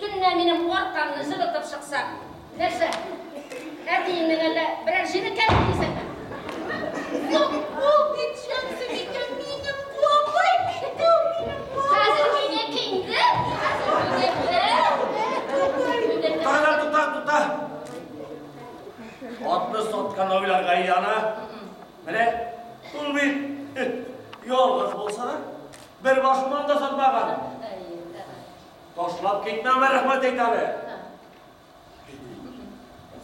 Төнлә минем аркамны җылытып чыксаң, нәрсә, әтиеңнең әллә берәр җене кәми дисеңме? Юк, ул бит Шәмсебикә минем апай бит ул минем апай. Хәзер минеке инде. Туктала, туктала, туктала. Атны саткан уйларга яна. Менә ул бит ялгыз булса да, бер башмагын да сатмаган. Ташлап китмәмә рәхмәт әйт әле.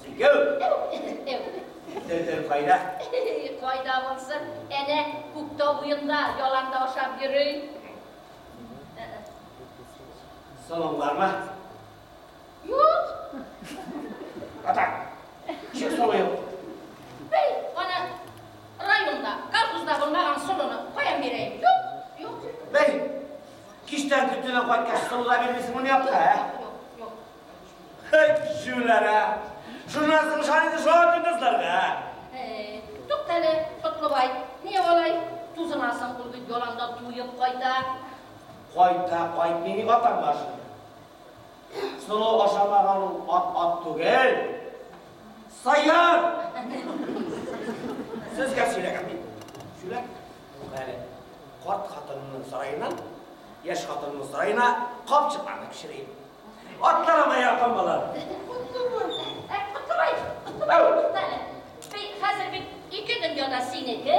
Син кем? Дәүдән кайда? Кайда булсын? Әнә Күктау буенда яланда ашап йөри. Соның бармы? Юк. Ата. Чек соны юк. Бей, ана районда, колхозда булмаган соны каян бирәйем? Юк. Юк. Бей. Кичтән көтүдән кайткач, сылу да бирмисең моны якка, ә? Юк, юк. Хәйт, җүләр, ә! Журналистның шаһиты шуңа көндезләргә, ә? Тукта әле, Котлыбай, ни алай тузынасың, ул бит яланда туеп кайта. Кайта, кайтмый ни атаң бар шул. Сылу ашамаган ул ат, ат түгел. Саяр! Сезгә сөйләгән мин. Җүләр. Юк әле, карт хатынымның сараеннан яшь хатынның сараена капчыкларны пешерәм. Атларыма якын булыр. Котлыбай, Котлыбай, туктале. Бей, хәзер бит ике дөнья да синеке.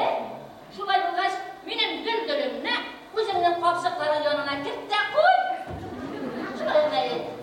Шулай булгач, минем гөлгөлемне үзеңнең капчыкларың янына керт тә куй. Шулай гына әле.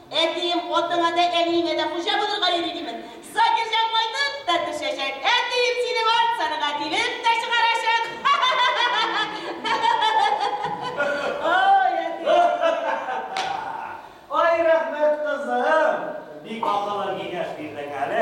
Әтием, атыңа да, әниеңә дә хуҗа булырга йөри, димен. Закирҗан кайтып та төшәчәк, әтием синең арт саныңа тибеп тә чыгарачак. Ай, әтием! Ай, рәхмәт, кызым! Бик акыллы киңәш бирдең әле.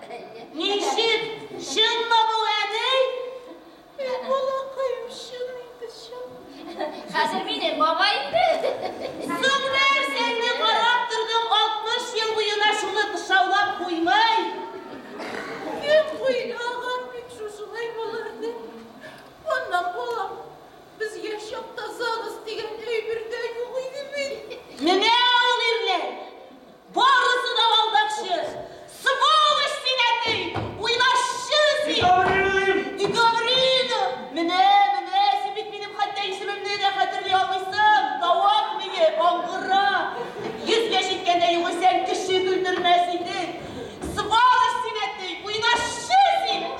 Ничек? Чынмы бу, әни? Эй, балакаем, чын инде, чын. Хәзер минем бабай инде. Соң нәрсәңне карап тордың 60 ел буена шуны кышаулап куймай. Кем уйлаган бит шушылай булыр дип. Аннан балам, без яшь чакта ЗАГС дигән әйбер дә юк иде бит. Менә Барысы да алдакчы! Сволочь син, әти! Уйлашчы син! И Гаврилым! И Гаврилым! Менә, менә, син бит минем хәтта исемемне дә хәтерли алмыйсың! Тавык мие, аңгыра! Йөзгә җиткәндә югыйсә кеше көлдермәс идең! Сволочь син, әти! Уйлашчы син!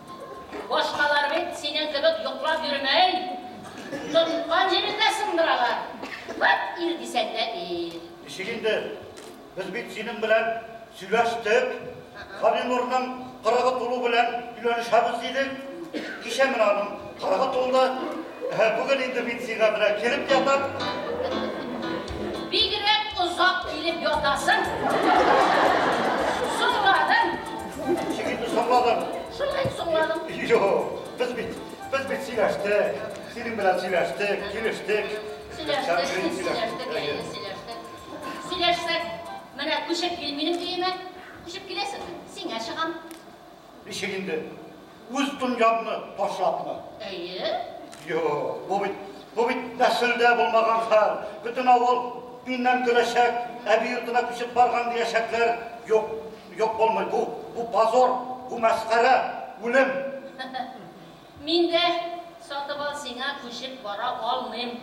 Башкалар бит синең кебек йоклап йөрмәй. Тоткан җирендә сындыралар. Вәт ир дисәң дә ир. Ничек инде? Без бит синең белән сөйләштек. Галинурның кырыгы тулу белән өйләнешәбез дидек. Кичә менә аның кырыгы тулды. Һә, бүген инде мин сиңа менә кереп ятам. Бигрәк озак килеп ятасың. Соңладың. Ничек инде соңладым? Шулай соңладым. Юк, без бит, без бит сөйләштек. Синең белән сөйләштек, килештек. Сөйләштек, сөйләштек, сөйләштек. Сөйләшсәк, менә күчеп кил минем өемә. Күчеп киләсеңме? Сиңа чыгам. Ничек инде? Үз дөньяңны ташлапмы? Әйе. Юк, бу бит, бу бит нәселдә булмаган хәл. Бөтен авыл миннән көләчәк, әби йортына күчеп барган диячәкләр. Юк, юк булмый. Бу, бу позор, бу мәсхәрә, үлем. Мин дә сатып ал сиңа күчеп бара алмыйм.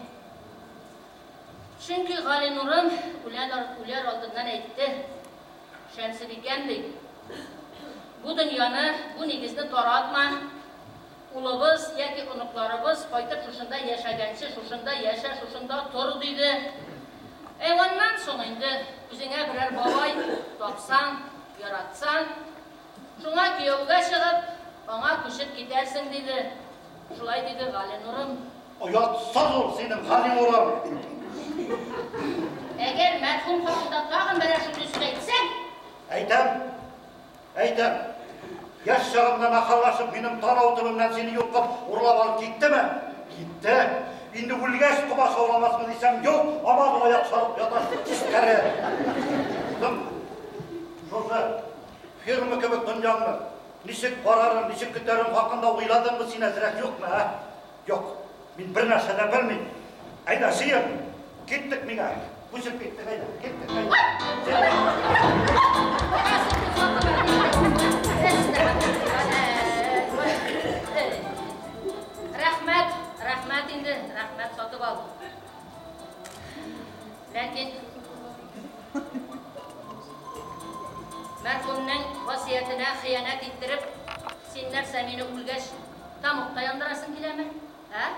Чөнки Галинурым үләр алдыннан әйтте, Шәмсебикәм, ди, бу дөньяны, бу нигезне таратма, улыбыз яки оныкларыбыз кайтып шушында яшәгәнче шушында яшә, шушында тор, диде. Ә аннан соң инде үзеңә берәр бабай тапсаң, яратсаң, Шуңа кияүгә чыгып, аңа күчеп китәрсең, диде. Шулай диде Галинурым. Оятсыз ул синең Галинурың! Әгәр мәрхүм хакында тагын берәр шундый сүз әйтсәң! Әйтәм! Әйтәм! Яшь чагымда нахаллашып, минем танау төбемнән сине йолкып, урлап алып киттеме? Китте! Инде үлгәч комачауламасмы дисәм, юк, һаман аяк чалып ята, тискәре! Соң, шушы. Фирма кебек дөньяңны ничек карарың, ничек көтәрең хакында уйладыңмы син әзрәк, юкмы, ә? Юк, мин бер нәрсә дә белмим. Әйдә, җыен, киттек миңа. Күчеп киттек, әйдә, киттек, әйдә. Рәхмәт, рәхмәт инде, рәхмәт, сатып алдым. Ләкин мәрхүмнең васыятенә хыянәт иттереп, син нәрсә, мине үлгәч, тамукта яндырасың киләме? Ә?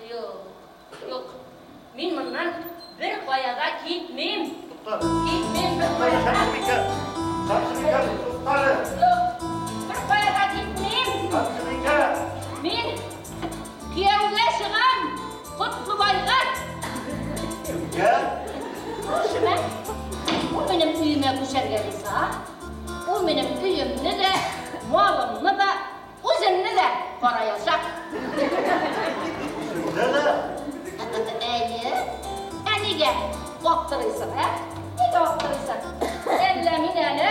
Юк. Юк. Мин моннан бер кая да китмим. Китмим бер кая да. Ханбикә, туктале. Юк. Бер кая да китмим. Ханбикә. Мин Кияүгә чыгам, Котлыбайга! Кемгә? Күршемә. Ул минем өемә күчәргә риза, ул минем өемне дә, малымны да, үземне дә караячак. Үзеңне дә? Әйе. Ә нигә аптырыйсың, ә? Нигә аптырыйсың? Әллә мин әле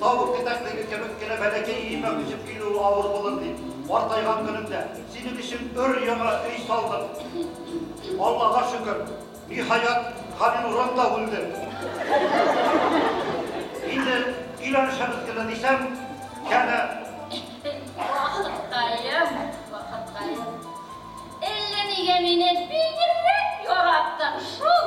Тавык титәклеге кебек кенә бәләкәй өемә күчеп килүе авыр булыр дип, картайган көнемдә синең өчен өр-яңа өй салдым. Аллага шөкер, ниһаять, Галинурым да үлде. Инде өйләнешәбез генә дисәм, янә. Вакыткаем, вакыткаем. Әллә нигә мине бигрәк яраттың шул.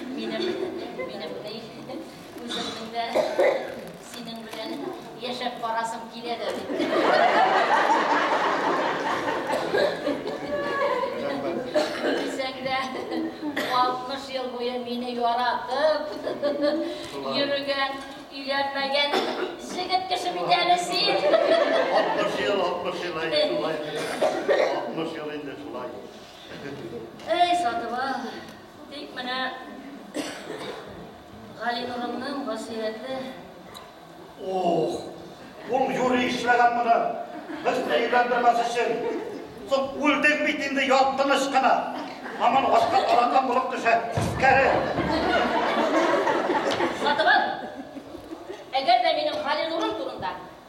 Минем, минем дә үземнең дә синең белән яшәп барасым килә дә бит. Дисәң дә, 60 ел буе мине яратып, йөрегән, өйләнмәгән җегет кеше бит әле син. 60 ел, 60 ел, 60 ел инде шулай. Эй, Сатыба, Тик менә Галинурымның васыяте. Ох, ул юри эшләгән моны. Без дә өйләндермәс өчен. Соң үлдең бит инде ят тыныч кына. Аман ашка каранган булып төшә. Кәре. Сатыбал, әгәр дә минем Галинурым турында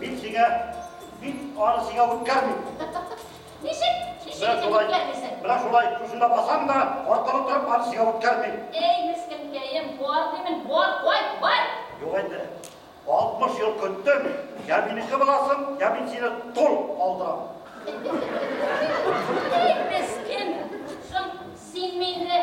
Мин сиңа бит аны сиңа үткәрмим. Ничек? Ничек итеп үткәрмисең? Менә шулай, шушында басам да, аркылы торып аны сиңа үткәрмим. Әй, мескенкәем, бар димен, бар, кайт, бар! Юк инде. 60 ел көттем, я минеке буласың, я мин сине тол алдырам. Әй, мескен, соң син мине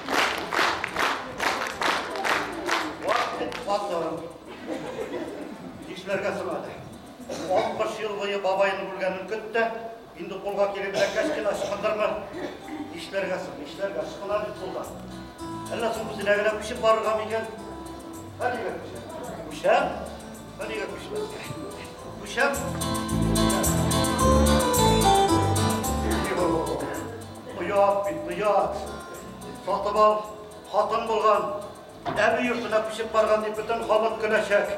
Кишләргә сынады. 60 ел буе бабайын күргәнен көтте, инде кулга килеп бәкәс кенә сыкындырма. Нишләргә соң, нишләргә сыкына бит кулга. Әллә соң үзенә генә күчеп барырга микән? Ә нигә күчәм? Күчәм? Ә нигә күчмәскә? Күчәм. Оят бит, оят. Сатып ал, хатын булган, әби йортына күчеп барган дип бөтен халык көләчәк.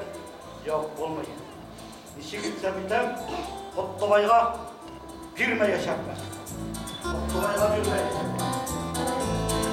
Юк, булмый. Ничек итсәм итәм, Котлыбайга бирмәячәкмен. Котлыбайга бирмәячәкмен.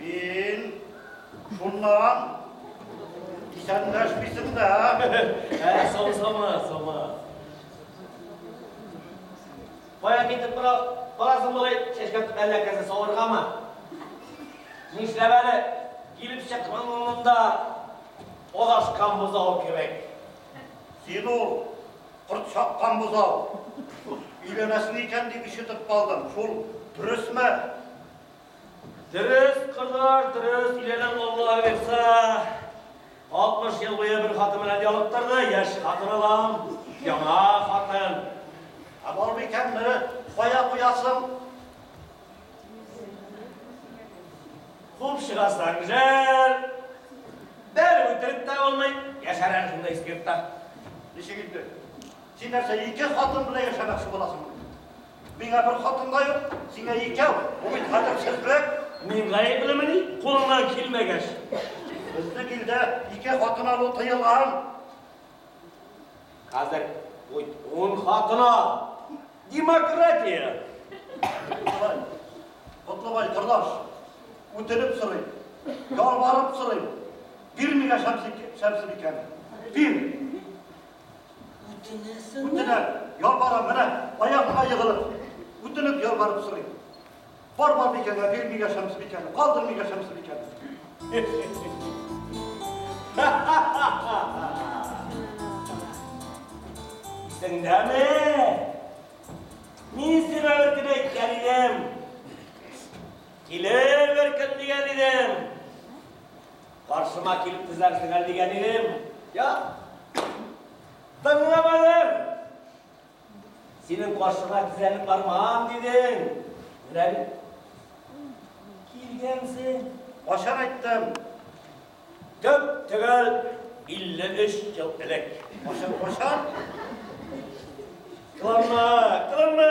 Мин шуннан исәнләшмисең дә. Ә, саусама, сама. Кая китеп бара, барасың болай чәчкә әллә кәсе савыргамы? Нишләп әле килеп чыкман монда адашкан бозау кебек? Син ул корт чаккан бозау. Өйләнәсең икән дип ишетеп калдым. Шул дөресме? Дөрес, кызлар, дөрес, өйләнәм Алла боерса. 60 ел буе бер хатын белән ялыктырды, яшь хатын алам, яңа хатын. Ә бармый икән, мине кая куясың? Куып чыгасың, жәл. Бәр үтереп тә булмый, яшәр әле шунда искертта. Ничек инде? Син нәрсә, ике хатын белән яшәмәкче буласыңмы? Миңа бер хатын да юк, сиңа икәү. Бу бит хәтерсезлек. Мин гаеплемени, кулыңнан килмәгәч? Безнең илдә ике хатын алу тыелган. Хәзер ун хатын ал. Демократия. Котлыбай, Котлыбай, кордаш, үтенеп сорыйм, ялварып сорыйм, бирмигә Шәмсебикәне. Бир! Үтенәсеңме? Үтенәм, ялварам, менә аягыма егылып, үтенеп ялварып сорыйм. Бар бар бикәгә бир миңа Шәмсебикәне, калдыр миңа Шәмсебикәне. Исеңдәме? Мин сиңа бер көн әйткән идем. Килеп бер көн дигән идем. Каршыма килеп тезләрсең әле дигән идем. Я? Тыңламадың! Синең каршыма тезләнеп бармам дидең. Менә бит. Килгәнсең. Ашар айттым. Төп төгәл 53 ел элек. Ашар, ашар. Кыланма, кыланма!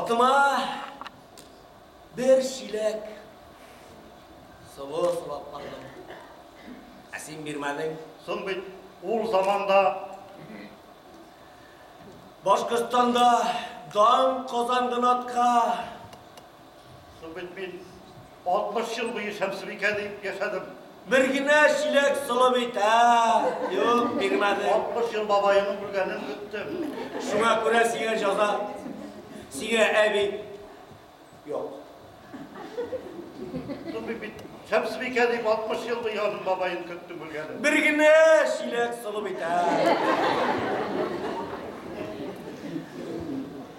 Атыма бер чиләк сылу сылап бардым. Ә син бирмәдең. Соң бит ул заманда Башкортстанда дан казанган атка Су бит мин 60 ел буе Шәмсебикә дип яшәдем. Бер генә чиләк солы бит, ә? Юк, бирмәде. 60 ел бабаемның үлгәнен көттем. Шуңа күрә сиңа җаза. Сиңа әби юк. Су бит мин Шәмсебикә дип 60 ел буе аның бабаен көттем үлгәнен. Бер генә чиләк солы бит, ә?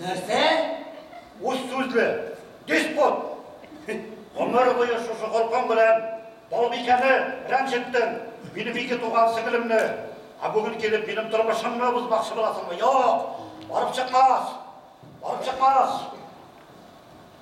Нәрсә? Үз сүзле, диспот! Гомер буе шушы холкың белән Балбикәне рәнҗеттең, минем ике туган сеңлемне. Ә бүген килеп минем тормышымны бозмакчы буласыңмы? Юк! Барып чыкмас! Барып чыкмас!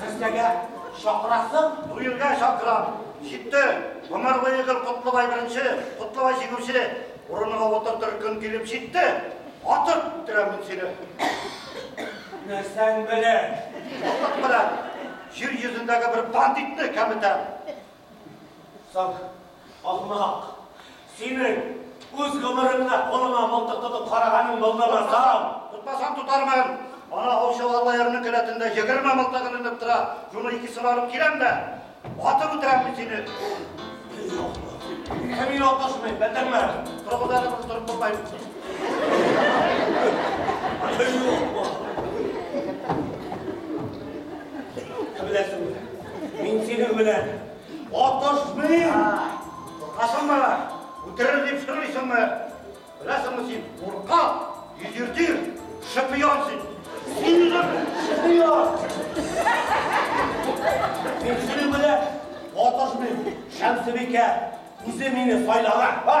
Сезгә шакырасың? Дуэльгә шакырам. Җитте. Гомер буе гел Котлыбай беренче, Котлыбай җиңүче. Урыныңа утыртыр көн килеп җитте. Атып үтерәм мин сине. Нәрсәң белән? Офык белән. Җир йөзендәге бер бандитны кәметәм. Соң, ахмак, синең үз гомереңдә кулыңа мылтык тотып караганың булдымы, соң? Тотмасам тотармын. Ана аучы Аллаерның келәтендә егерме мылтык эленеп тора. Шуның икесен алып киләм дә, атып үтерәм мин сине. Әй, ахмак. Ә мин атышмыйм, белдеңме? Торыгыз әле, мин торып булмыйм. Әй, ахмак. Ә беләсеңме? Мин синең белән атышмыйм! Куркасың ба? Үтерер дип сырлыйсың ба? Беләсеңме син, куркак, йөзертир, шпион син! Син үзең шпион! Мин синең белән атышмыйм, Шәмсебикә! Үзе мине сайлаган, а?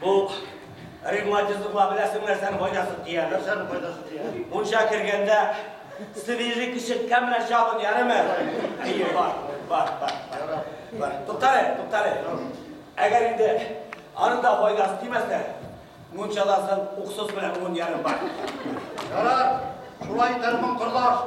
Бу ревматизмга беләсең нәрсәнең файдасы тия, нәрсәнең файдасы тия. Мунча кергәндә свежий кишеткә менә чабын ярыме? Әйе, бар, бар, бар, бар. Бар. Туктале, туктале. Әгәр инде аны да файдасы тимәсә, мунчадан соң уксус белән мун ярым бар. Ярар, шулай итәрмен, кордаш.